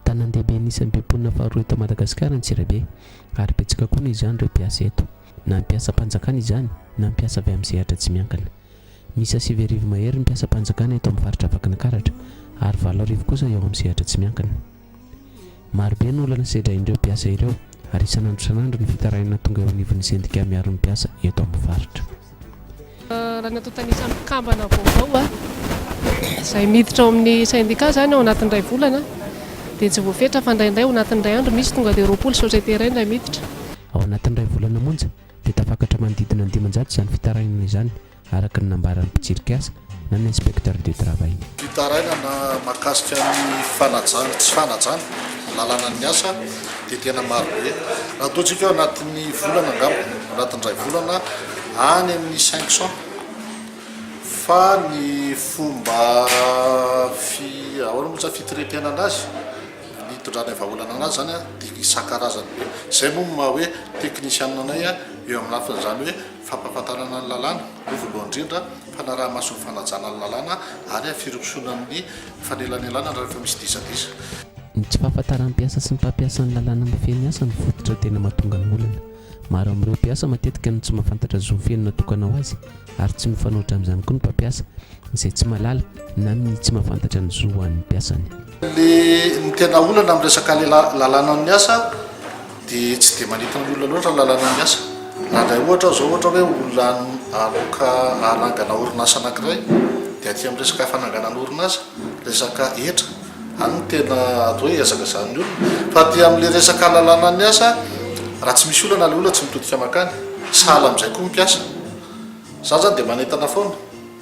Tanàn-dehibe anisan'ny be mponina faharoa eto Madagasikara ny Tsirabe ary betsaka koa noho izany ireo mpiasa eto, na ny mpiasam-panjakana izany na ny mpiasa avy amin'ny sehatra tsy miankina. Miisa sivy arivo mahery ny mpiasam-panjakana eto amin'ny faritra Vakinakaratra ary valo arivo kosa eo amin'ny sehatra tsy miankina. Marobe ny olana sedrain'ireo mpiasa ireo ary isan'andro isan'andro ny fitarainana tonga eo anivon'ny sendika miaro ny mpiasa eto amin'ny faritra. Raha ny antontan'isan'ny mpikambana vaovao izay miditra ao amin'ny sendika izany ao anatin'ny iray volana dia tsy voafetra fa indraindray ao anatin'ny iray andro misy tonga dia roapolo société iray indray miditra. Ao anatin'ny iray volana monja dia tafakatra manodidina ny dimanjato izany fitarainana izany. araka ny nambaran'ny mpitsiry kiasy na ny inspecteur du travail. Fitarainana mahakasika ny fanajana sy tsy fanajana ny lalanan'ny asa dia tena marobe. Raha toa tsika eo anatin'ny volana angamba, anatin'ny iray volana, any amin'ny 500 fa ny fomba fi, ahoana moa izany fitretenana azy, ny hitondrana ny vahaolana anazy izany dia isan-karazany be. Izay moa no maha hoe technician anay eo amin'ny lafiny izany hoe. fampahafantarana ny lalàna, aloha voalohany indrindra, fanaraha-maso ny fanajana ny lalàna ary firosoana amin'ny fanelanelanana rehefa misy disadisa. Ny tsy fahafantaran'ny mpiasa sy ny mpampiasa ny lalàna mifehy ny asa no fototra tena mahatonga ny olana. Maro amin'ireo mpiasa matetika no tsy mahafantatra zony feno natokana ho azy ary tsy mifanohitra amin'izany koa ny mpampiasa izay tsy mahalala na mihi tsy mahafantatra ny zo ho an'ny mpiasany. Le ny tena olana am resaka le lalàna ny asa de tsy de manintona ny olona loatra ny lalàna ny asa raha ndray ohatra aho zao ohatra hoe olona aloka hanangana orinasa anakiray de aty am resaka fananganana orinasa resaka hetra any no tena atao hoe hazakazahany olona fa aty am le resaka lalàna ny asa raha tsy misy olana le olona tsy mitodika makany sahala amzay koa ny mpiasa zany zany de manentana foana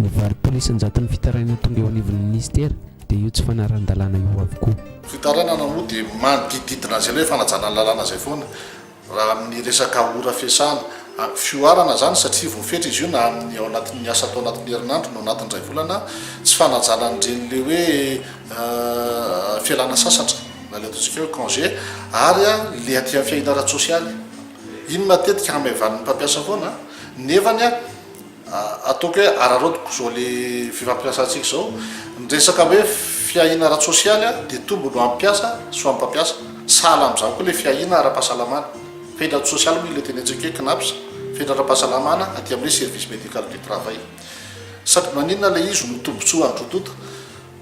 Ny varotoana isan-jaton'ny fitarainana tonga eo anivon'ny minisitera dia io tsy fanarahan-dalàna io avokoa. Fitarainana moa dia manodidididina an'izay ilay fanajana ny lalàna izay foana raha amin'ny resaka ora fiasana. Fihoarana izany satria voafetra izy io na amin'ny ao anatin'ny asa atao anatin'ny herinandro na ao anatin'ny iray volana. Tsy fanajana an'ireny ilay hoe fialana sasatra na ilay ataontsika hoe congé ary ilay aty amin'ny fiahiana ara-tsosialy. Iny matetika hamaivanin'ny mpampiasa foana nefany. Ataoko hoe araraotiko izao le fifampiasantsika izao. Ny resaka hoe fiahiana ara-tsosialy dia tombony ho an'ny mpiasa sy ho an'ny mpampiasa. Sahala amin'izany koa ilay fiahiana ara-pahasalamana. Fenitra ara-tsosialy moa ilay tenentsika hoe Cnaps, fenitra ara-pahasalamana aty amin'ny hoe service médical du travail. Sady maninona ilay izy no tombontsoa an'roa tonta?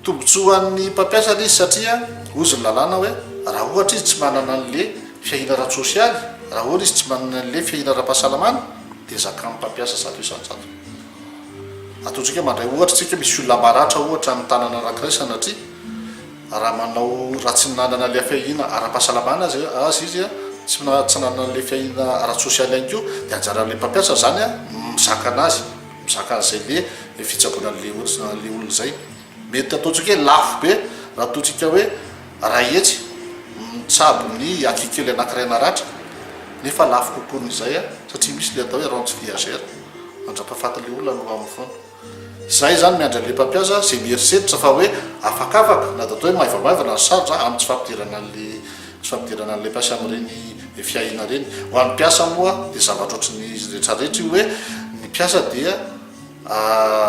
Tombotsoan'ny mpampiasa ilay izy satria hozy ny lalàna hoe raha ohatra izy tsy manana an'ilay fiahiana ara-tsosialy, raha ohatra izy tsy manana an'ilay fiahiana ara-pahasalamana dia zakan'ny mpampiasa zato isan-jato. Ataontsika hoe mandray ohatra isika hoe misy olona maratra ohatra any tanana anankiray sanatria, raha manao raha tsy nanana ilay fiahiana ara-pahasalamana azy azy izy tsy tsy nanana an'ilay fiahiana ara-tsosialy ihany koa dia anjaran'ilay mpampiasa izany ny mizaka an'azy. Mizaka zay be le fitsaboana le olona zay. Mety ataontsika hoe lafo be raha ataontsika hoe ray hetsy mitsabo ny aky kely anakiray naratra nefa lafo kokoan izay satria misy le atao hoe rentes viagères mandrapafaty le olona no aminy foana. Zay zany miandry anle mpampiasa ze mierisetrtra fa hoe afakafaka na de atao hoe maivamaivana ny sarotra aminy tsy fampidirana anle Tsy fampidirana an'ilay mpiasa amin'ireny fiahiana ireny. Ho an'ny mpiasa moa dia zavatra ohatry ny izy rehetra rehetra io hoe ny mpiasa dia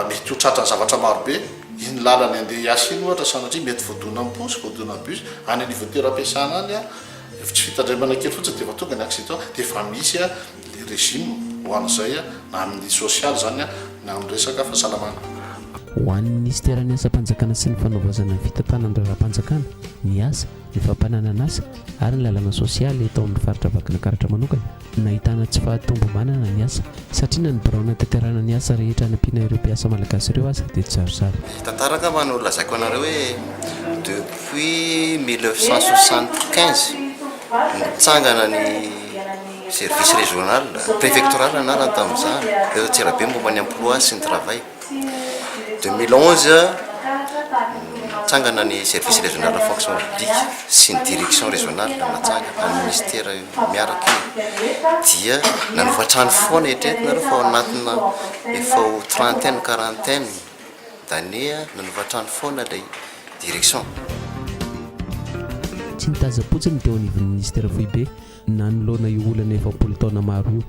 mety ho tratran'ny zavatra marobe. Iny lalany handeha hiasa iny ohatra sanatria mety voadonan'ny posy, voadonan'ny bus, any anivon'ny toeram-piasana any efa tsy fitandremana kely fotsiny dia efa tonga ny accident dia efa misy ilay régime ho an'izay na amin'ny sosialy izany na amin'ny resaka fahasalamana. Ho an'ny minisiteran'ny asam-panjakana sy ny fanaovaozana ny fitantanan-draharaham-panjakana, ny asa, ny fampananan'asa ary ny lalàna sosialy eto amin'ny faritra Vakinankaratra manokana. Nahitana tsy fahatomombanana ny asa satria na ny birao nanatanterahana ny asa rehetra hanampiana ireo mpiasa malagasy ireo aza dia tsizarizary. Tantara angamba no lazaiko anareo hoe depuis mille neuf cent soixante quinze no nitsangana ny service régional, préfectoral anarany tamin'izany, eto Antsirabe momba ny emploi sy ny travail. Deux mille onze, nitsangana ny service régional fonction publique sy ny direction régionale natsangana, ny ministera miaraka io dia nanova trano foana, eritrereto nareo fa ao anatina efa ho trentaine, quarantaine d'années nanova trano foana ilay direction. Tsy nitazam-potsiny ny teo anivon'ny Minisitera Foibe nanoloana io olana efapolo taona maro io,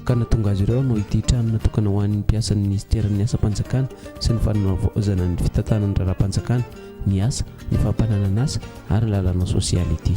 ka nahatonga azy ireo hanao ity trano natokana ho an'ny mpiasan'ny minisiteran'ny asam-panjakana sy ny fanavaozana ny fitantanana raharaham-panjakana, ny asa, ny fampananan'asa ary ny lalàna sosialy ity.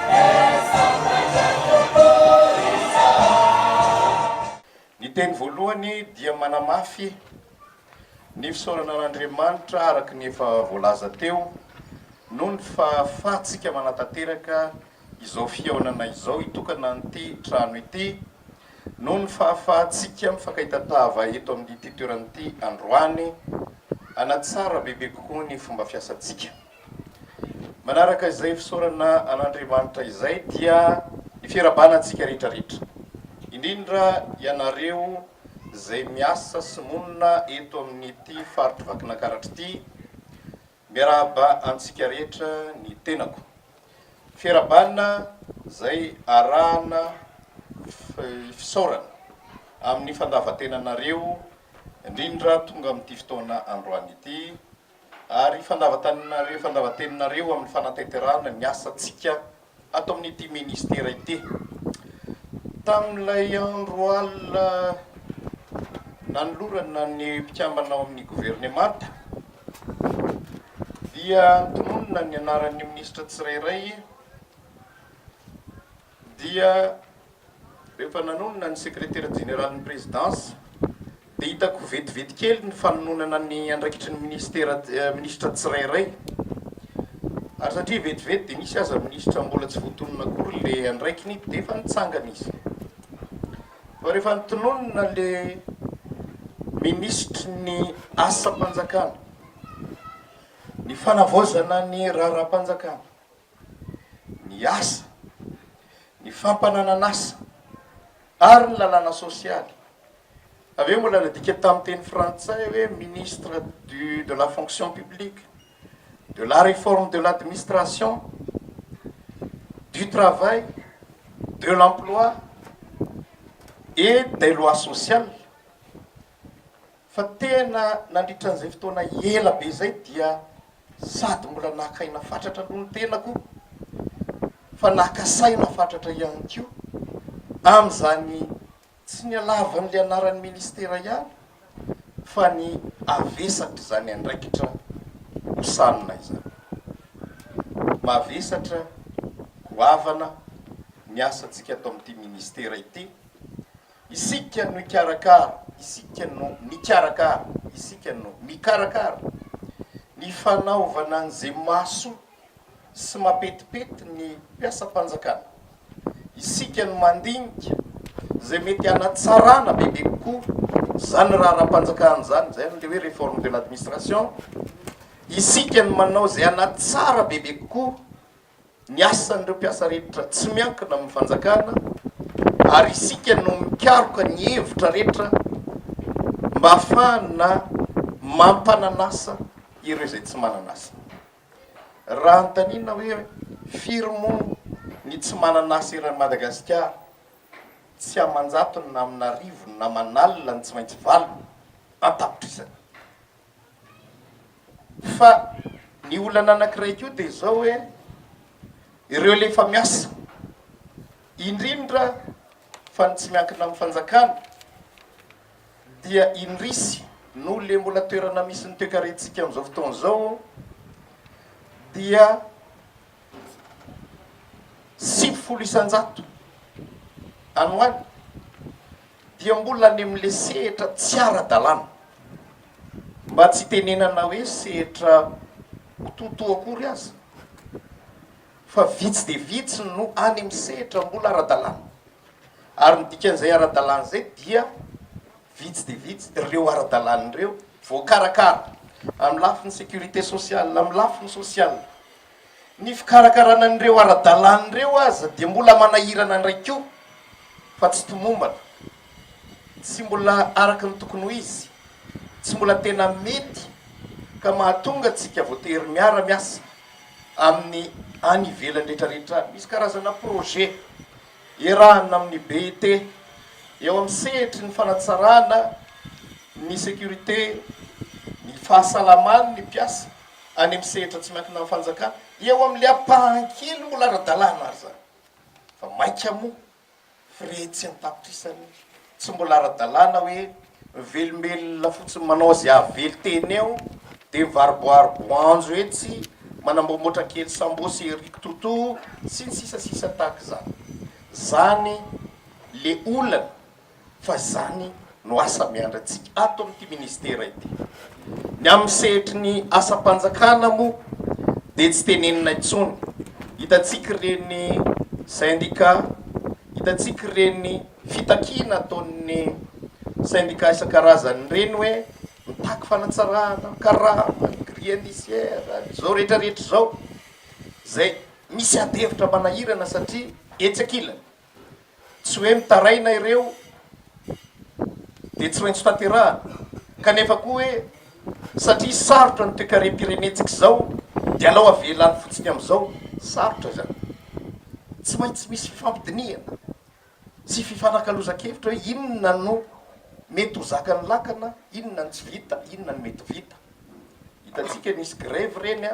Ny teny voalohany dia manamafy ny fisaorana an'Andriamanitra araka ny efa voalaza teo noho ny fahafahantsika manatanteraka izao fihaonana izao hitokana an'ity trano ity, noho ny fahafahantsika mifankay tatava eto amin'ity toerana ity androany, hanatsara bebe kokoa ny fomba fiasantsika. Manaraka izay fisaorana an'Andriamanitra izay dia ny fiarahabana antsika rehetra rehetra, indrindra ianareo izay miasa sy monina eto amin'ity faritr'i Vakinakaratra ity, miarahaba antsika rehetra ny tenako. Fiarahabana izay arahana fisaorana amin'ny fandavan-tenanareo indrindra tonga amin'ity fotoana androany ity, Ary fandavantaninareo, fandavanteninareo amin'ny fanatanterahana ny asantsika ato amin'ity Ministera ity. Tamin'ilay andro alina nanolorana ny mpikambana ao amin'ny Governemanta dia notononina ny anaran'ny Minisitra tsirairay dia Rehefa nanonona ny Sekretera Jeneralin'ny Prezidansa dia hitako vetivety kely ny fanononana ny andraikitry ny Minisitera, Minisitra tsirairay. Ary satria vetivety dia misy aza Minisitra mbola tsy voatonona akory ilay andraikiny dia efa nitsangana izy. Fa rehefa notononina ilay Minisitry ny Asam-panjakana, ny Fanavaozana ny Raharaham-panjakana, ny asa, ny fampananan'asa ary ny lalàna sosialy. Avy eo mbola nadika tamin'ny teny frantsay hoe ministre du de la fonction publique, de la réforme de l'administration, du travail, de l'emploi et des lois sociales. Fa tena nandritra an'izay fotoana ela be izay dia sady mbola naka aina fatratra aloha ny tenako fa naka saina fatratra ihany koa amin'izany tsy ny halavan'ilay anaran'ny ministera ihany fa ny havesatr'izany andraikitra hosanina izany. Mavesatra, goavana ny asantsika ato amin'ity ministera ity Isika no hikarakara, isika no mikarakara, isika no mikarakara ny fanaovana an'izay mahasoa sy mapetipety ny mpiasam-panjakana. Isika no mandinika izay mety hanatsarana bebe kokoa izany raharaham-panjakana izany, izay ilay hoe réforme de l'administration. Isika no manao izay hanatsara bebe kokoa Ny asan'ireo mpiasa rehetra tsy miankina amin'ny fanjakana ary isika no mikaroka ny hevitra rehetra mba hahafahana mampanan'asa ireo izay tsy manan'asa. Raha anontanina hoe firy moa ny tsy manan'asa eran'i Madagasikara, tsy aman-jatony na amin'arivony na aman'alina ny tsy maintsy valiny, an-tapitrisany. Fa ny olana anankiray koa dia izao hoe ireo ilay efa miasa, indrindra fa ny tsy miankina amin'ny fanjakana dia indrisy noho ilay mbola toerana misy ny toekarentsika amin'izao fotoana izao dia sivifolo isan-jato any ho any. dia mbola any amin'ilay sehatra tsy ara-dalàna, mba tsy hitenenana hoe sehatra kitoatoa akory aza, fa vitsy dia vitsy no any amin'ny sehatra mbola ara-dalàna, ary ny dikan'izay ara-dalàna izay dia vitsy dia vitsy ireo ara-dalàna ireo voakarakara amin'ny lafiny sécurité sociale, amin'ny lafiny sosialy. Ny fikarakarana an'ireo ara-dalàna ireo aza dia mbola manahirana indray koa fa tsy tomombana. Tsy mbola araka ny tokony ho izy, tsy mbola tena mety ka mahatonga antsika voatery miara-miasa amin'ny any ivelany rehetra rehetra. Misy karazana projet iarahana amin'ny BIT eo amin'ny sehatry ny fanatsarana ny sécurité, ny fahasalaman'ny mpiasa. any amin'ny sehatra tsy miankina amin'ny fanjakana, dia eo amin'ilay ampahan-kely mbola ara-dalàna ary izany, fa mainka moa frais tsy an-tapitrisany tsy mbola ara-dalàna hoe mivelombelona fotsiny manao izay hahavelo tena eo, dia mivaroboaro boanjo etsy, manamboamboatra kely sambosy ery kitoto sy ny sisa sisa tahaka izany. Izany ilay olana fa izany no asa miandrintsika ato amin'ity ministera ity. Ny amin'ny sehatry ny asam-panjakana moa dia tsy tenenina intsony. Hitantsika ireny sendika, hitantsika ireny fitakiana ataon'ny sendika isan-karazany ireny hoe mitaky fanatsarana ny karama, ny grille indiciaire, ny izao rehetra rehetra izao izay misy ady hevitra manahirana satria etsy ankilany Tsy hoe mitaraina ireo dia tsy maintsy tanterahana, kanefa koa hoe satria sarotra ny toekarem-pirenentsika izao dia alao avela any fotsiny amin'izao. Sarotra izany. Tsy maintsy misy fifampidinihana sy fifanakalozan-kevitra hoe inona no mety ho zakan'ny lakana, inona no tsy vita, inona no mety ho vita. Hitantsika nisy grevy ireny.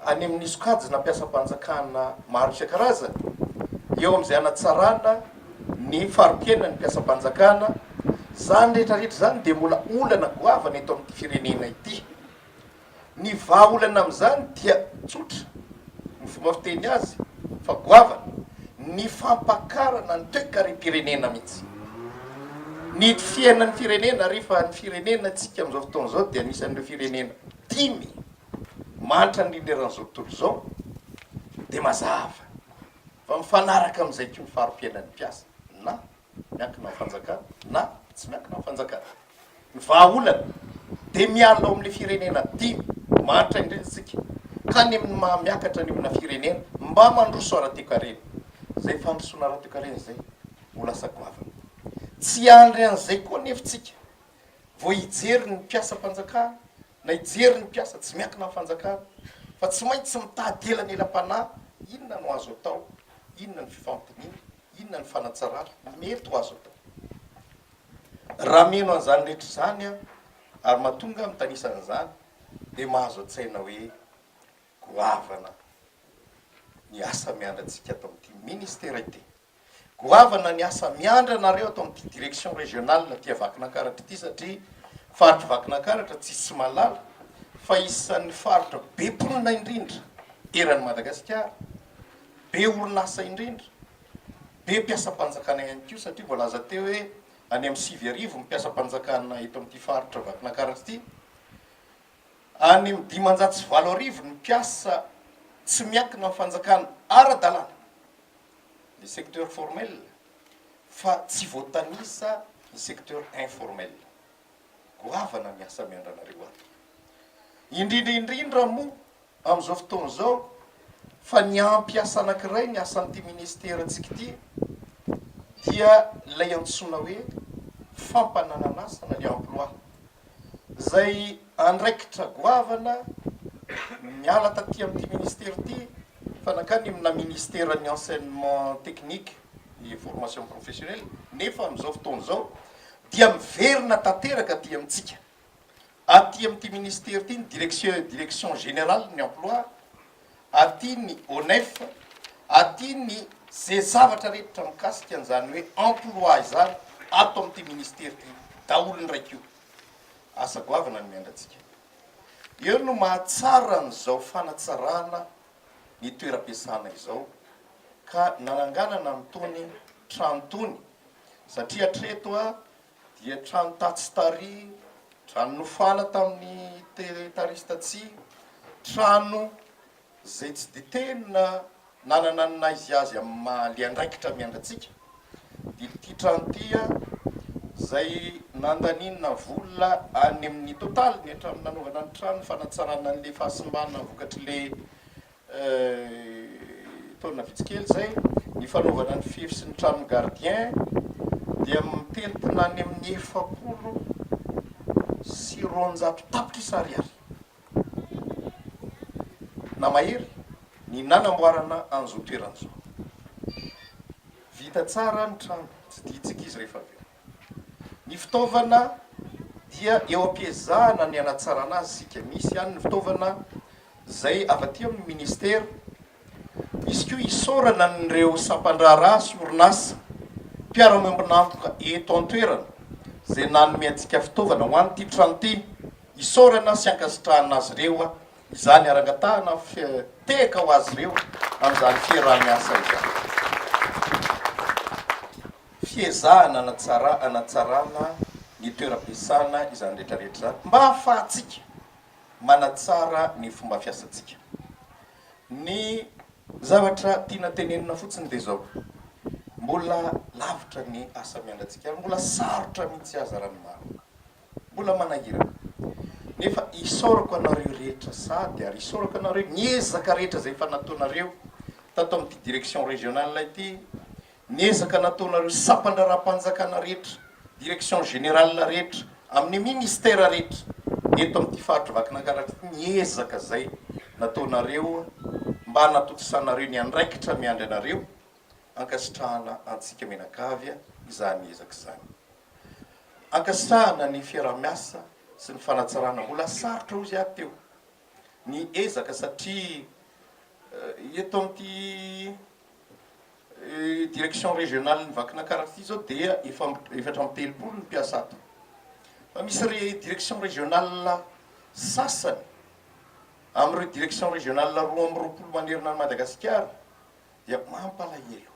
any amin'ny sokajy nampiasam-panjakana maro isan-karazany, eo amin'izay hanatsarana ny fari-piainan'ny mpiasam-panjakana, izany rehetrarehetra izany dia mbola olana goavana eto amin'ity firenena ity. Ny vahaolana amin'izany dia tsotra, ny fomba fiteny azy fa goavana, ny fampakarana ny toekarem-pirenena mihitsy. Ny fiainan'ny firenena ary fa ny firenenantsika amin'izao fotoana izao dia anisan'ireo firenena dimy manitra ny leran'izao tontolo izao dia mazava fa mifanaraka amin'izay koa ny fari-piainan'ny mpiasa na miankina amin'ny fanjakana na tsy miankina amin'ny fanjakana. Ny vahaolana dia miala ao amin'ilay firenena dimy manitra indray isika ka any amin'ny maha miakatra any amina firenena mba mandroso ara-toekarena. Izay fandrosoana ara-toekarena izay ho lasa goavana. Tsy hiandry an'izay koa anefa isika vao hijery ny mpiasam-panjakana na hijery ny mpiasa tsy miankina amin'ny fanjakana fa tsy maintsy mitady elanelam-panahy inona no azo atao, inona ny fifampidiniha, inona ny fanatsarana, ny mety ho azo atao. Raha mino an'izany rehetra izany aho ary mahatonga ahy mitanisa an'izany dia mahazo an-tsaina hoe goavana ny asa miandry antsika ato amin'ity Ministera ity. Goavana ny asa miandry anareo ato amin'ity direction régionale aty Vakinankaratra ity satria faritry Vakinankaratra tsy tsy malala fa isan'ny faritra be mponina indrindra eran'i Madagasikara, be orinasa indrindra, be mpiasam-panjakana ihany koa satria voalaza teo hoe any amin'ny sivy arivo ny mpiasam-panjakana eto amin'ity faritra Vakinankaratra ity, any amin'ny dimanjato sy valo arivo ny mpiasa tsy miankina amin'ny fanjakana ara-dalàna. ny secteur formel fa tsy voatanisa ny secteur informel. Goavana ny asa miandranareo ato. Indrindra indrindra moa amin'izao fotoana izao fa ny ampy asa anankiray ny asan'ity ministerantsika ity dia ilay antsoina hoe fampananan'asa na ny emploi izay Andraikitra goavana niala taty amin'ity ministera ity fa nankany amina ministeran'ny enseignement technique et formation professionnelle nefa amin'izao fotoana izao dia miverina tanteraka aty amintsika aty amin'ity ministera ity ny direction direction générale ny emploi aty ny ONEF aty ny ze zavatra rehetra mikasika an'izany hoe emploi izany ato amin'ity ministera ity daholo ny raikio. Asa goavana ny miainantsika. Eo no mahatsara an'izao fanatsarana ny toeram-piasana izao ka nananganana an'itony trano itony satria hatreto dia trano tatsy tary, trano nofana tamin'ny tary sy tatsy, trano izay tsy dia tena nanana ny naizy azy amin'ny maha liandraikitra miandry antsika, dia ity trano ity izay nandaniana vola any amin'ny totaliny hatramin'ny nanaovana ny trano, fanatsarana an'ilay fahasimbana vokatr'ilay taona vitsy kely izay, ny fanaovana ny fefy sy ny tranon'ny gardien dia mitentina any amin'ny efapolo sy roanjato tapitrisa ariary. Na mahery ny nanamboarana an'izao toerana izao. Vita tsara ny trano, tsidihitsika izy rehefa avy eo. Ny fitaovana dia eo am-piezahana ny hanatsarana azy isika. Misy ihany ny fitaovana izay avy aty amin'ny Ministera Misy koa isaorana an'ireo sampan-draharaha sy orinasa, mpiara-miombon'antoka eto an-toerana izay nanome antsika fitaovana ho an'ity trano ity. Isaorana sy ankasitrahana azy ireo izany ary angatahana fitekaka ho azy ireo amin'izany fiaraha-miasa izany. Fiezahana hanatsara hanatsarana ny toeram-piasana izany rehetra rehetra izany mba hahafahantsika manatsara ny fomba fiasantsika. Ny zavatra tiana tenenina fotsiny dia izao, mbola lavitra ny asa miandratsika ary mbola sarotra ny tsy aza raha ny marina. Mbola manahirana. Nefa isaorako anareo rehetra sahady ary isaorako anareo ny ezaka rehetra izay efa nataonareo tato amin'ity direction régionale ity Ny ezaka nataonareo sampan-draharaham-panjakana rehetra, direction générale rehetra, amin'ny ministère rehetra eto amin'ity faritry Vakinankaratra ity ny ezaka izay nataonareo mba hanatontosànareo ny andraikitra miandry anareo, ankasitrahana antsika mianakavy izany ezaka izany. Ankasitrahana ny fiaraha-miasa sy ny fanatsarana, mbola sarotra hozy aho teo ny ezaka satria eto amin'ity. Direction régionale-n'i Vakinankaratra ity izao dia efa efatra amby telopolo ny mpiasa ato. Fa misy re direction régionale sasany amin'ireo direction régionale roa amby roapolo manerana an'i Madagasikara dia mampalahelo.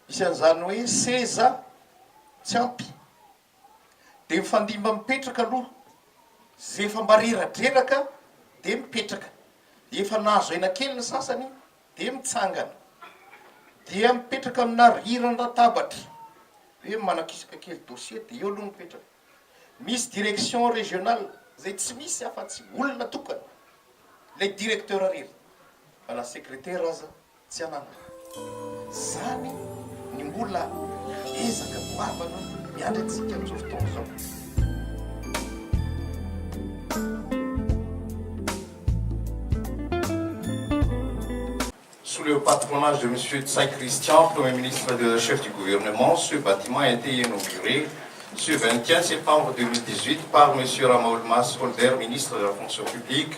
Misy an'izany hoe seza tsy ampy Dia mifandimba mipetraka aloha, zay efa mareradreraka dia mipetraka, efa nahazo aina kely ny sasany dia mitsangana, dia mipetraka amina riran-databatra hoe manakisaka kely dossier dia eo aloha ny mipetraka, misy direction régionale izay tsy misy afa-tsy olona tokana, ilay directeur irery fa na secrétaire aza Tsy ananako izany ny mbola ezaka goavana miandry antsika amin'izao fotoana izao. Sous le patronage de Monsieur Tsay Christian, Premier ministre de Chef du Gouvernement, ce bâtiment a été inauguré ce 21 septembre 2018 par Monsieur Ramaolimasy Holder, Ministre de la Fonction publique,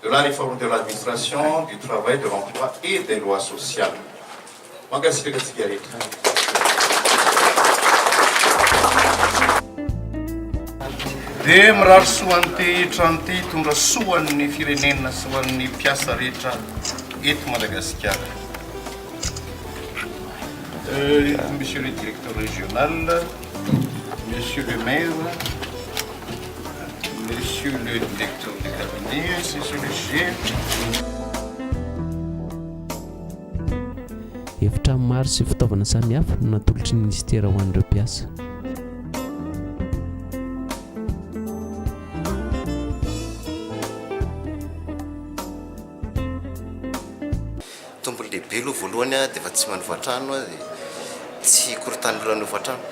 de la réforme de l'administration, du travail, de l'emploi et des lois sociales. Mankasitraka antsika rehetra. Dia mirary soa an'ity trano ity hitondra soa an'ny firenena sy ho an'ny mpiasa rehetra eto Madagasikara. Euh, monsieur le directeur régional, monsieur le maire, Monsieur le directeur de cabinet, ainsi sur le sujet. Efitrano maro sy fitaovana samihafa no natolotry ny minisitera ho an'ireo mpiasa. Tompony lehibe aloha voalohany dia efa tsy manova trano tsy hikorontan'ny olona hanova trano.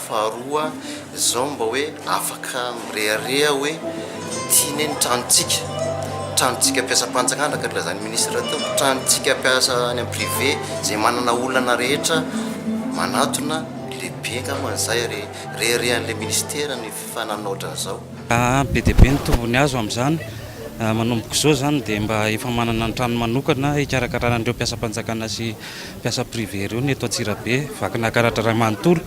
Faharoa izao mba hoe afaka mirehareha hoe ity anie ny tranontsika, tranontsika mpiasam-panjakana ka nilazan'ny ministra teo, tranontsika mpiasa any amin'ny privé izay manana olana rehetra manatona ny lehibe angamba izay ary reharehan'ilay ministera ny. fa nanao otran'izao. Be dia be ny tombony azo amin'izany. Manomboka izao izany dia mba efa manana ny tranony manokana hikarakarana an'ireo mpiasam-panjakana sy mpiasa privé ireo ny eto Antsirabe. Vakina karatra iray manontolo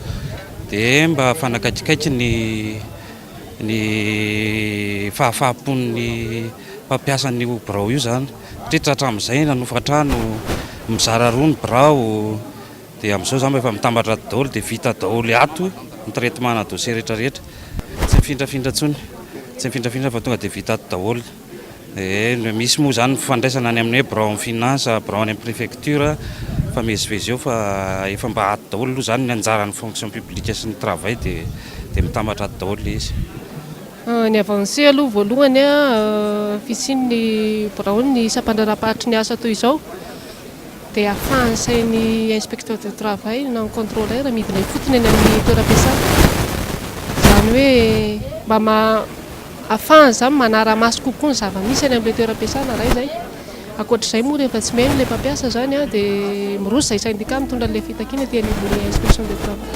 dia mba fanakaikikaiky ny ny fahafahampon'ny mpampiasa an'io birao io izany satria tratra amin'izay nanofa trano mizara roa ny birao Dia amin'izao izany rehefa mitambatra ato daholo dia vita daholo ato ny traitement-na dossier rehetra rehetra. Tsy mifindrafindra intsony, tsy mifindrafindra fa tonga dia vita ato daholo. Dia misy moa izany fifandraisana any amin'ny hoe birao amin'ny finance, birao any amin'ny prefecture, mifamezivezy eo fa efa mba ato daholo aloha izany ny anjaran'ny fonction publique sy ny travail dia dia mitambatra ato daholo ilay izy. Ny avancé aloha voalohany fisian'ny biraon'ny sampandraharamparitry ny asa toy izao. dia afahan'ny sain'ny inspecteur du travail na ny contrôleur midina ifotony eny amin'ny toeram-piasana, izany hoe mba afahany izany manara-maso kokoa ny zava-misy eny amin'ilay toeram-piasana iray izay, ankoatr'izay moa rehefa tsy mihaino ilay mpampiasa izany an dia miroso izay syndicat mitondra an'ilay fitakiana ety anivon'ny inspection du travail.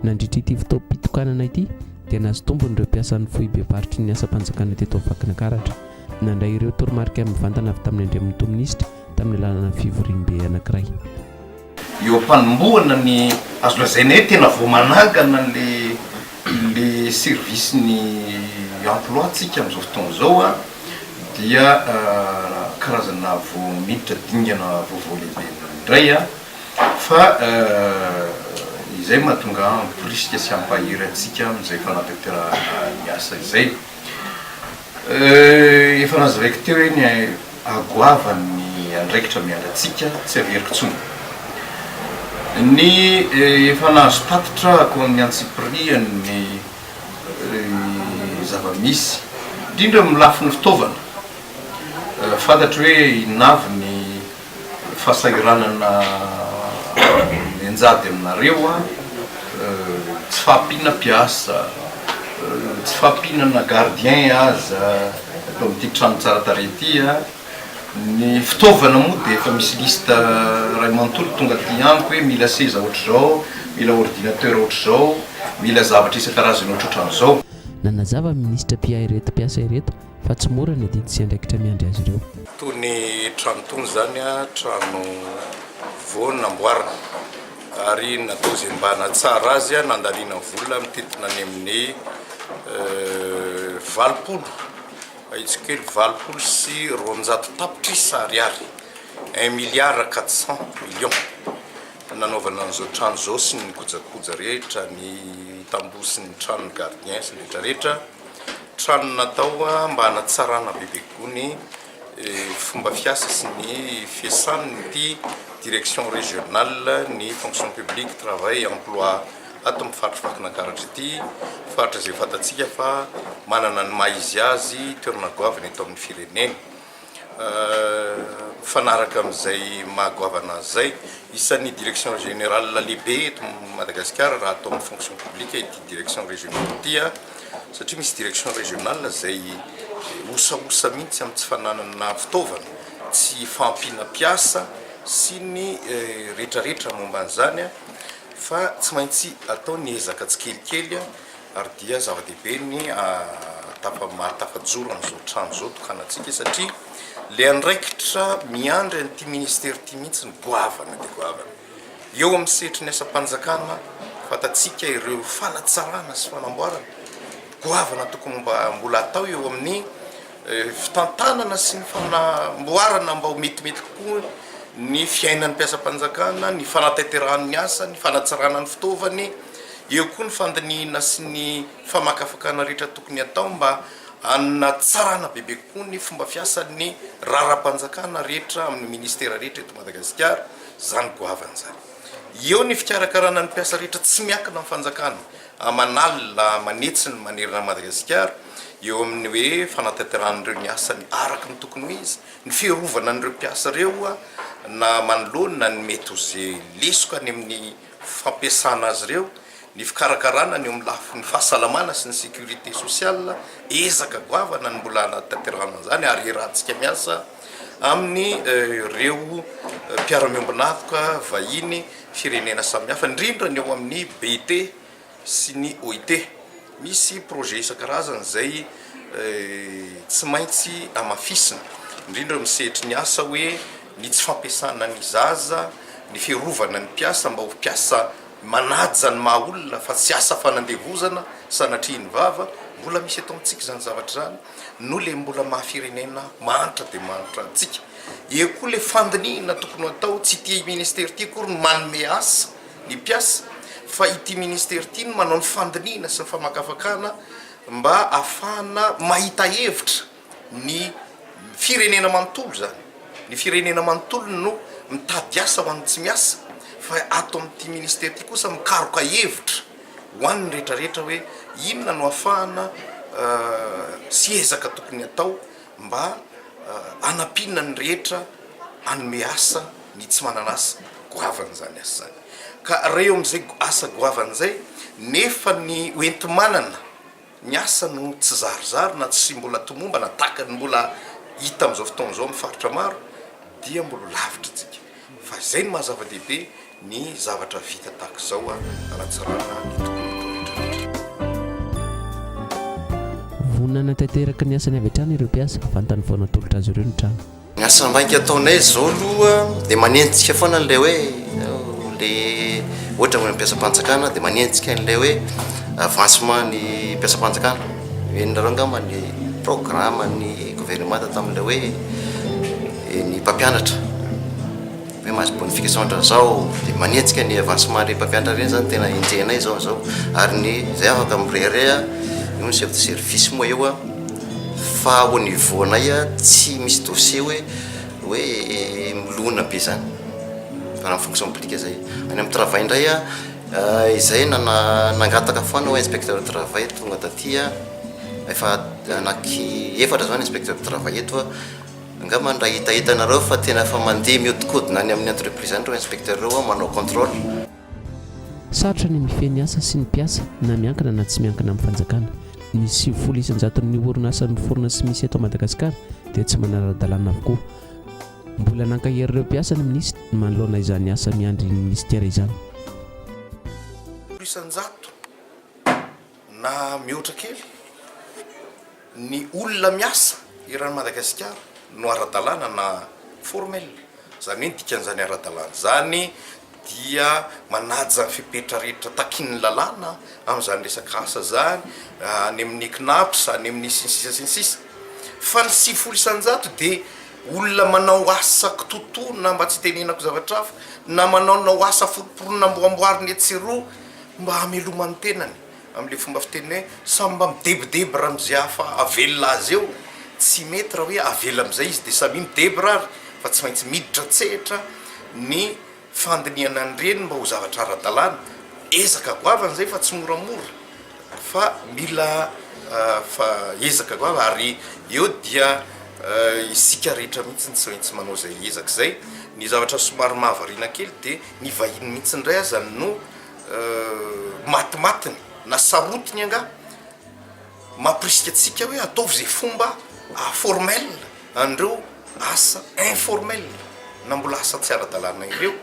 Nandritra ity fotoam-pitokanana ity dia nahazo tombony ireo mpiasan'ny foibem-paritry ny asam-panjakana teto Vakinankaratra. Nandray ireo toromarika mivantana avy tamin'ny Andriamatoa Minisitra tamin'ny alalan'ny fivoriambe anankiray. Eo am-panombohana ny azo lazaina hoe tena vao manangana ilay service ny emploi tsika amin'izao fotoana izao dia karazana vao miditra dingana vaovao lehibe indray fa izay mahatonga hampirisika sy hampahery antsika amin'izay fanatanterahana ny asa izay. Euh efa nazavaiko teo iny eh, agoavany ny andraikitra miandry antsika tsy averiko tsony ny eh, efa nahazo tatitra ako amin'ny antsipirihany ny eh, zava-misy indrindra amin'ny lafiny fitaovana eh, fantatro hoe inona avy ny Fahasahiranana mianjady aminareo an! Tsy fahampiana mpiasa, tsy fahampiana na gardien aza eto amin'ity trano tsara tarehy ity an! Ny fitaovana moa dia efa misy liste iray manontolo tonga aty amiko hoe mila seza ohatr'izao, mila ordinateur ohatr'izao, mila zavatra isan-karazany ohatrohatran'izao. Nanazava ny minisitra mpiahy ireto mpiasa ireto Fa tsy mora ny adidy sy andraikitra miandry azy ireo. Toy ny trano tony izany, trano vao namboarina ary natao izay mba hanatsara azy, nandaniana vola mitentina any amin'ny valopolo, ahitsiko kely, valopolo sy roanjato tapitrisa ariary, un milliard quatre cent millions, nanaovana an'izao trano izao sy ny kojakoja rehetra, ny tamboho sy ny tranon'ny gardien sy ny rehetrarehetra. Trano natao mba hanatsarana bebe kokoa ny fomba fiasa sy ny fiasan'ity Direction Régionale ny Fonction Publique, Travail et Emploi ato amin'ny faritry Vakinankaratra ity. Faritra izay fantatsika fa manana ny maha izy azy toerana goavana eto amin'ny firenena. Mifanaraka amin'izay maha goavana azy izay, isan'ny direction générale lehibe eto Madagasikara raha atao amin'ny fonction publique ity direction régionale ity satria misy direction régionale izay osaosa mihitsy amin'ny tsy fananana fitaovana, tsy fahampiana mpiasa sy ny rehetrarehetra momba an'izany fa tsy maintsy atao ny ezaka tsikelikely ary dia zava-dehibe ny ahatafamaly tafajoro an'izao trano izao tokanantsika satria ilay andraikitra miandry an'ity ministera ity mihitsy ny goavana dia goavana eo amin'ny sehatry ny asam-panjakana fantatsika ireo fanatsarana sy fanamboarana goavana tokony mba mbola atao eo amin'ny fitantanana sy ny fanamboarana mba ho metimety kokoa ny fiainan'ny mpiasam-panjakana, ny fanatanterahany ny asany, fanatsarana ny fitaovany, eo koa ny fandinihina sy ny famakafakana rehetra tokony atao mba hanatsarana bebe kokoa ny fomba fiasan'ny raharaham-panjakana rehetra amin'ny ministera rehetra eto Madagasikara izany goavana izany. Eo ny fikarakarana ny mpiasa rehetra tsy miankina amin'ny fanjakana, aman'alina manitsiny manerana an'i Madagasikara eo amin'ny hoe fanatanterahana an'ireo ny asany araka ny tokony ho izy, ny fiarovana an'ireo mpiasa ireo na manoloana ny mety ho ze lesoka any amin'ny fampiasana azy ireo, ny fikarakarana ny eo amin'ny lafiny fahasalamana sy ny sécurité sociale, ezaka goavana ny mbola hanatanterahana an'izany ary iarahantsika miasa amin'ny ireo mpiara-miombon'antoka vahiny. firenena samihafa, indrindra ny ao amin'ny BIT sy ny OIT. Misy projet isan-karazany izay tsy maintsy hamafisina, indrindra amin'ny sehatry ny asa hoe ny tsy fampiasana ny zaza, ny fiarovana ny mpiasa mba ho mpiasa manaja ny maha olona fa tsy asa fanandevozana sanatria ny vava. Mbola misy eto amintsika izany zavatra izany. no le mbola maha firenena mahantra dia mahantra antsika. Eo koa le fandinihina tokony ho atao, tsy ity ministera ity akory no manome asa ny mpiasa fa ity ministera ity no manao ny fandinihina sy ny famakafakana mba afahana mahita hevitra ny firenena manontolo izany. Ny firenena manontolo no mitady asa ho an'ny tsy miasa fa ato amin'ity ministera ity kosa mikaroka hevitra. ho an'ny rehetra rehetra hoe inona no afahana sy ezaka tokony atao mba hanampiana ny rehetra hanome asa ny tsy manana asa goavan'izany asa izany ka raha eo amin'izay asa goavana izay nefa ny hoenti-manana Ny asa no tsy zarizary na tsy mbola tomombana tahaka ny mbola hita amin'izao fotoana izao amin'ny faritra maro dia mbola lavitra antsika. Fa izay no maha zava-dehibe ny zavatra vita tahaka izao hanatsarana ny tontolo rehetra rehetra. Vonona hanatanteraka ny asany avy hatrany ireo mpiasa, vantany vao natolotra azy ireo ny trano. Ny asa maika ataonay izao aloha dia manenjika foana an'ilay hoe le ohatra ny mpiasam-panjakana dia manenjika an'ilay hoe avancement ny mpiasam-panjakana. Henonareo angamba ny programme ny gouvernemanta tamin'ilay hoe ny mpampianatra. Ny maha bonifica zao andra zao de manenjika ny avancement le mpampiantra reny zany tena enjehinay zao zao ary ny zay afaka mirehareha eo ny chef de service moa eo a fa au niveau nay a tsy misy dossier hoe hoe milona be zany fa raha ny fonction publique zay any am travail ndray a izay nana nangataka foana hoe inspecteur de travail tonga taty a efa anaky efatra zao ny inspecteur de travail eto a Angamba ny raha hitahitanareo fa tena efa mandeha mihodinkodina any amin'ny entreprise any ireo inspecteur ireo an, manao contrôle. Sarotra ny mifehy ny asa sy ny mpiasa na miankina na tsy miankina amin'ny fanjakana. Ny sivifolo isan-jaton'ny orinasa miforona sy misy eto Madagasikara dia tsy manara-dalàna avokoa. Mbola nankahery ireo mpiasa ny minisitra manoloana izany asa miandry ny minisitera izany. Isan-jato. Na mihoatra kely ny olona miasa eran'i Madagasikara no ara-dalàna na formel, izany hoe ny dikan'izany ara-dalàna izany dia manaja ny fepetra rehetra takin'ny lalàna amin'izany resaka asa izany, any amin'ny Cnaps, any amin'ny sy ny sisa sy ny sisa. Fa ny sivifolo isan-jato dia olona manao asa kitoatoa na mba tsy itenenako zavatra hafa, na manaonao asa forom-poronina amboamboarina etsy sy eroa, Mba hamelomany ny tenany amin'ilay fomba fiteny hoe samy mba midebodebo raha amin'izay hafa avelona azy eo, tsy mety raha hoe avela amin'izay izy dia samia midebra ary fa tsy maintsy miditra an-tsehatra ny fandinihana ny reny mba ho zavatra ara-dalàna. Ezaka goavana izay fa tsy moramora fa mila fa ezaka goavana ary eo dia isika rehetra mihitsy tsy maintsy manao izay ezaka izay. Ny zavatra somary mahavariana kely dia ny vahiny mihitsy indray aza no matimatiny na sarotiny angaha mampirisika antsika hoe ataovy izay fomba formel an'ireo asa informel na mbola asa tsy ara-dalàna ireo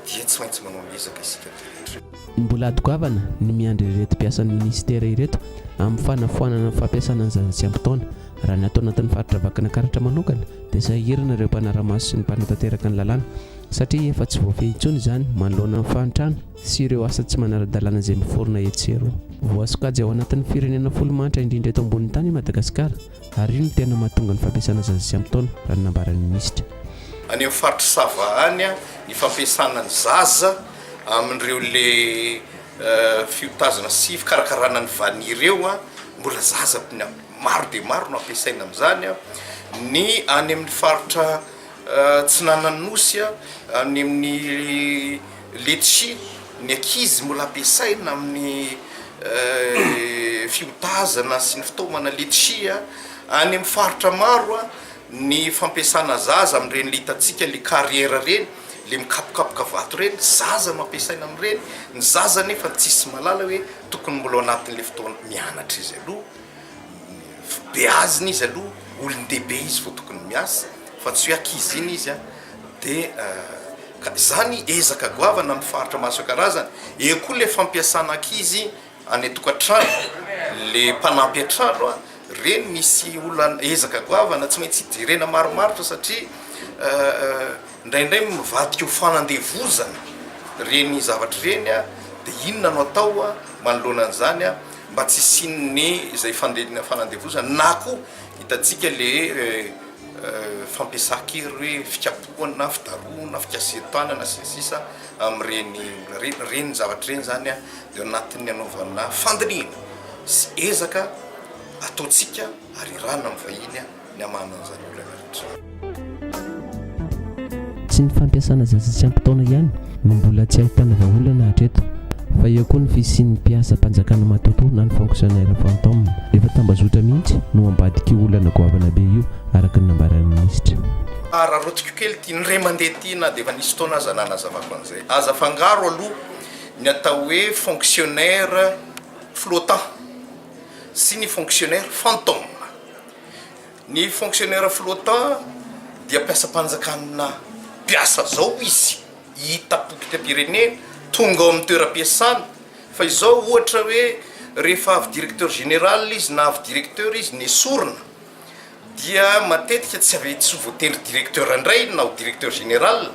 dia tsy maintsy manao ny ezaka isika rehetra. Mbola ady goavana ny miandry ireto mpiasan'ny minisitera ireto amin'ny fanafoanana ny fampiasana ny zaza tsy ampy taona. Raha ny ato anatin'ny faritra Vakinankaratra manokana dia sahirana ireo mpanara-maso sy ny mpanatanteraka ny lalàna satria efa tsy voafehy intsony izany manoloana ny fahantrana sy ireo asa tsy manara-dalàna izay miforona etsy sy eroa. Voasokajy ao anatin'ny firenena folo mahantra indrindra eto ambonin'ny tany i Madagasikara ary io no tena mahatonga ny fampiasana zaza tsy ampy taona, raha ny nambaran'ny minisitra. Any amin'ny faritr'i Sava any, ny fampiasana ny zaza amin'ireo le fiotazana sy fikarakarana ny vani ireo, mbola zaza maro dia maro no ampiasaina amin'izany. Ny any amin'ny faritra Tsinan'Anosy, any amin'ny letchi, ny ankizy mbola ampiasaina amin'ny fihodazana sy ny fitaomana letchi, any amin'ny faritra maro ny fampiasana zaza amin'ireny le hitantsika le carrière ireny, le mikapokapoka vato ireny, zaza no ampiasaina amin'ireny, ny zaza anefa tsisy mahalala hoe tokony mbola ao anatin'le fotoana mianatra izy aloha, beazina izy aloha, olon-dehibe izy vao tokony miasa. fa tsy hoe ankizy iny izy a, dia ka izany ezaka goavana amin'ny faritra maro isan-karazany, eo koa ilay fampiasana ankizy any an-tokantrano, ilay mpanampy an-trano a, ireny misy olana, ezaka goavana tsy maintsy jerena marimaritra satria indraindray mivadika ho fanandevozana ireny zavatra ireny a, dia inona no atao a, manoloana an'izany a, mba tsy hisian'ny izay fande- fanandevozana na koa hitantsika ilay hoe. fampiasan-kery hoe fikapohana na fidarohana, fikasihan-tanana sy ny sisa amin'ireny ireny zavatra ireny izany dia ao anatin'ny hanaovana fandinihana sy ezaka ataontsika ary irahana amin'ny vahiny ny hamahanana an'izany olana rehetra. Tsy ny fampiasana zaza tsy ampy taona ihany no mbola tsy ahitana vahaolana hatreto fa eo koa ny fisian'ny mpiasam-panjakana matotoa na ny fonctionnaires fantômes. Efa tambazotra mihitsy no ambadik'io olana goavana be io araka ny nambaran'ny minisitra. Araraotiko kely ity, ny ray aman-dreny ity na dia efa nisy fotoana aza nanazavako an'izay. Aza afangaro aloha ny atao hoe fonctionnaires flottants sy ny fonctionnaires fantômes. Ny fonctionnaire flottant dia mpiasam-panjakana mpiasa zao izy hita potitam-pirenena tonga ao amin'ny toeram-piasana fa izao ohatra hoe rehefa avy directeur général izy na avy directeur izy nesorina dia matetika tsy avy tsy voatery directeur indray na ho directeur général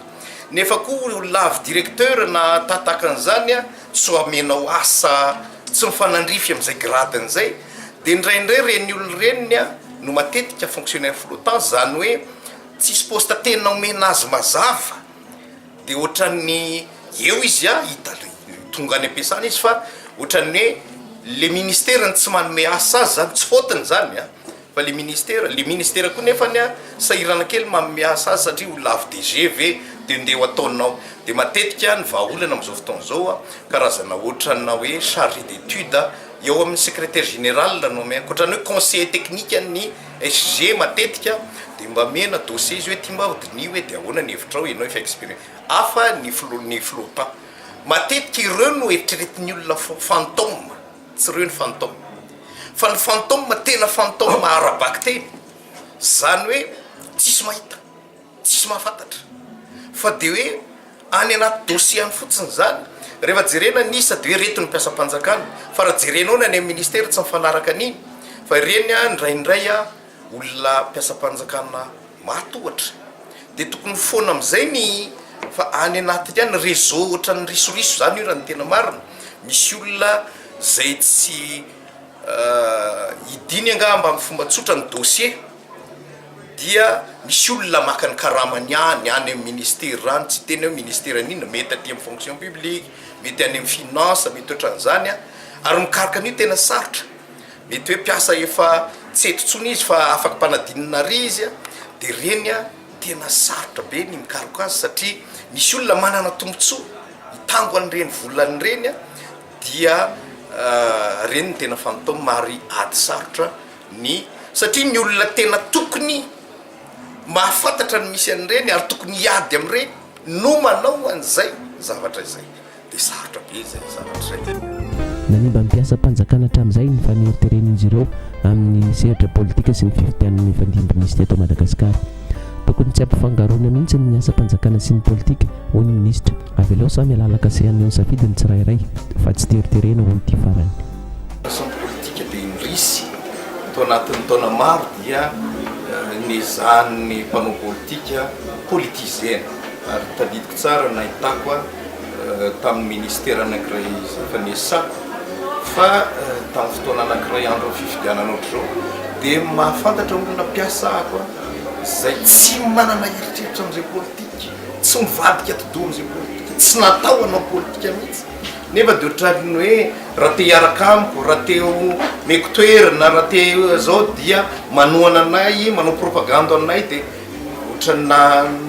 nefa koa olona avy directeur na tahatahakan'izany a tsy ho amenao asa tsy mifanandrify amin'izay gradiny izay Dia indraindray ireny olona ireny no matetika fonctionnaire flottant, izany hoe tsisy poste tena omena azy mazava, dia ohatran'ny eo izy hita tonga any am-piasana izy fa ohatran'ny hoe ilay ministera no tsy manome asa azy, izany tsy faute-ny izany an, fa ilay ministera, ilay ministera koa nefa sahirana kely manome asa azy satria olona avy DG ve dia ndeha ho ataonao, dia matetika ny vahaolana amin'izao fotoana izao karazana ohatrana hoe charge d'étude. Eo amin'ny secretaire général no omena, ankoatra ny hoe conseiller technique an'ny SG matetika dia mba omena dossier izy hoe ity mba hodiniho hoe dia ahoana ny hevitrao ianao efa expérimenté hafa ny filoha ny filoha pan. Matetika ireo no eritreretin'ny olona fo fantôme tsy ireo ny fantôme fa ny fantôme tena fantôme ara-bakiteny izany hoe tsisy mahita. Tsisy mahafantatra fa dia hoe any anaty dossier any fotsiny izany. Rehefa jerena ny isa dia hoe ireto ny mpiasam-panjakana fa raha jerenao ny any amin'ny ministera tsy mifanaraka an'iny fa ireny indraindray olona mpiasam-panjakana maty ohatra dia tokony foana amin'izay ny fa any anatiny any réseau ohatran'ny risoriso izany io raha ny tena marina. Misy olona izay tsy hidiny angaha mba amin'ny fomba tsotra ny dossier. dia misy olona maka ny karamany any any amin'ny ministera any, tsy tena hoe ministera an'inona, mety aty amin'ny fonction publique, mety any amin'ny finance, mety ohatran'izany an, ary mikaroka an'io tena sarotra, mety hoe mpiasa efa tsy eto intsony izy fa afaka mpanadinina àry izy an, dia ireny an tena sarotra be ny mikaroka azy satria misy olona manana tombontsoa hitango an'ireny volany ireny an, dia ireny no tena fantatao mari-ady sarotra. Ny satria ny olona tena tokony mahafantatra ny misy an'ireny ary tokony hiady amin'ireny no manao an'izay zavatra izay dia sarotra be izay zavatra izay. Nanimba ny mpiasam-panjakana hatramin'izay ny faneriteren'izy ireo amin'ny sehatra politika sy ny fifidianana hifandimby misy teto Madagasikara. Tokony tsy ampifangaroina mihitsy ny asam-panjakana sy ny politika, hoy ny minisitra. Avelao samy halalakasehany eo ny safidy ny tsirairay fa tsy teriterena, hoy ity farany. Antony politika dia indrisy, tao anatin'ny taona maro dia nezahan'ny mpanao politika politiser ary tadidiko tsara ny nahitako tamin'ny ministera anankiray fanesako fa tamin'ny fotoana anankiray andron'ny fifidianana ohatr'izao dia mahafantatra olona mpiasa ako izay tsy manana eritreritra amin'izay politika, tsy mivadika atidoha amin'izay politika, tsy natao hanao politika mihitsy. Nefa dia ohatran'ny hoe raha te hiaraka amiko, raha te omeko toerana, raha te izao dia manohana anay, manao propagande anay dia ohatran'ny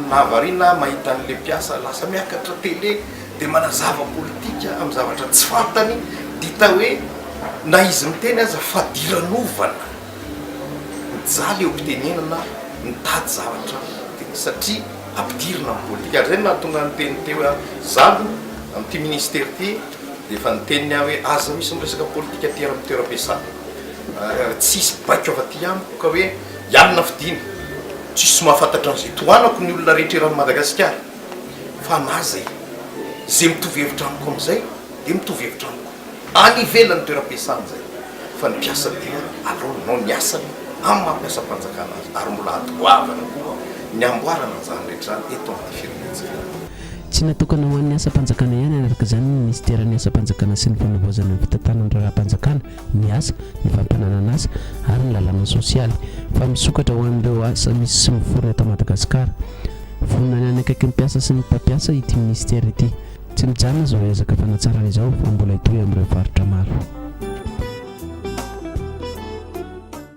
nahavariana aho mahita an'ilay mpiasa lasa miakatra tele dia manazava politika amin'ny zavatra tsy fantany dia hita hoe na izy miteny aza fadiranovana. mijaly eo am-pitenenana mitady zavatra tena satria ampidirina amin'ny politika. Ary izay no nahatonga ahy niteny teo hoe izaho aloha amin'ity ministera ity dia efa niteny ny ahy hoe aza misy miresaka politika aty amin'ny toeram-piasana ary tsy hisy baiko afa-ty amiko ka hoe ianona fidina. Tsisy mahafantatra an'izay tohanako ny olona rehetra eran'i Madagasikara fa na izay izay mitovy hevitra amiko amin'izay dia mitovy hevitra amiko. any ivelan'ny toeram-piasany izay fa ny mpiasa dia aleo nanao ny asany amin'ny maha mpiasam-panjakana azy ary mbola ady goavana koa ny hamboarana an'izany rehetra izany eto amin'ny firenentsika. Tsy natokana ho an'ny asam-panjakana ihany araka izany ny minisiteran'ny asam-panjakana sy ny fanavaozana ny fitantanana ny raharaham-panjakana, ny asa, ny fampananan'asa ary ny lalàna sosialy fa misokatra ho an'ireo asa misy sy miforona eto Madagasikara. Vonona ny hanakaiky ny mpiasa sy ny mpampiasa ity minisitera ity. Tsy mijanona izao ezaka fanatsarana izao fa mbola hitohy amin'ireo faritra maro.